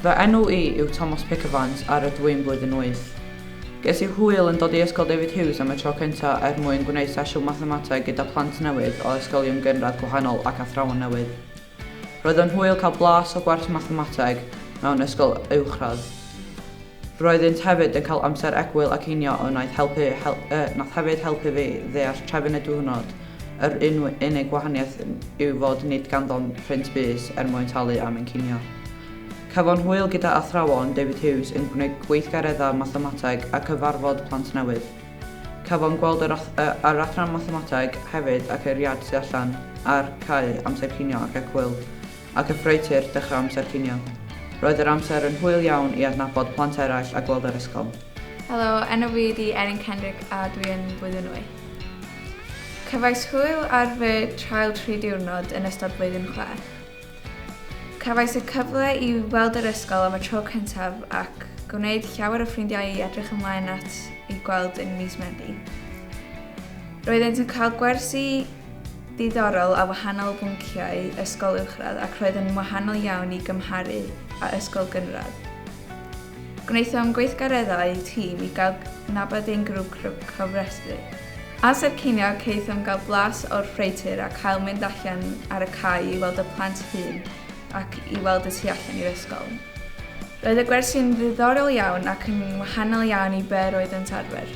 Fy enw i yw Tomos Pickavans a rydw i'n blwyddyn wyth. Ges i hwyl yn dod i Ysgol David Hughes am y tro cyntaf er mwyn gwneud sesiwn mathemateg gyda phlant newydd o ysgolion gynradd gwahanol ac athrawon newydd. Roedd o'n hwyl cael blas o gwers mathemateg mewn ysgol uwchradd. Roeddynt hefyd yn cael amser egwyl ac inio a wnaeth helpu, hel, uh, nath hefyd helpu fi ddeall trefn y diwrnod Yr un unig wahaniaeth yw fod nid ganddom print bys er mwyn talu am ein cinio. Cafon hwyl gyda athrawon David Hughes yn gwneud gweithgareddau mathemateg a cyfarfod plant newydd. Cafon gweld yr, yr adran mathemateg hefyd ac yr iard tu allan, a'r cae, amser cinio ac ecwyl, ac y ffreutur, dechrau amser cinio. Roedd yr amser yn hwyl iawn i adnabod plant eraill a gweld yr ysgol. Helo, enw fi ydi Erin Kendrick a dwi yn Blwyddyn Wyth. Cefais hwyl ar fy trial tri diwrnod yn ystod blwyddyn chwech. Cefais y cyfle i weld yr ysgol am y tro cyntaf ac gwneud llawer o ffrindiau i edrych ymlaen at i gweld yn mis Medi. Roeddent yn cael gwersi ddiddorol a wahanol o bynciau ysgol uwchradd ac roedd yn wahanol iawn i gymharu â ysgol gynradd. Gwnaethom gweithgareddau tîm i gael cydnabod ein grŵp cofrestru. Ar Sir Ceiniog caethom gael blas o'r ffreutur a cael mynd allan ar y cae i weld y plant hŷn ac i weld y tu allan i'r ysgol. Roedd y gwersi'n ddiddorol iawn ac yn wahanol iawn i be' roeddent arfer.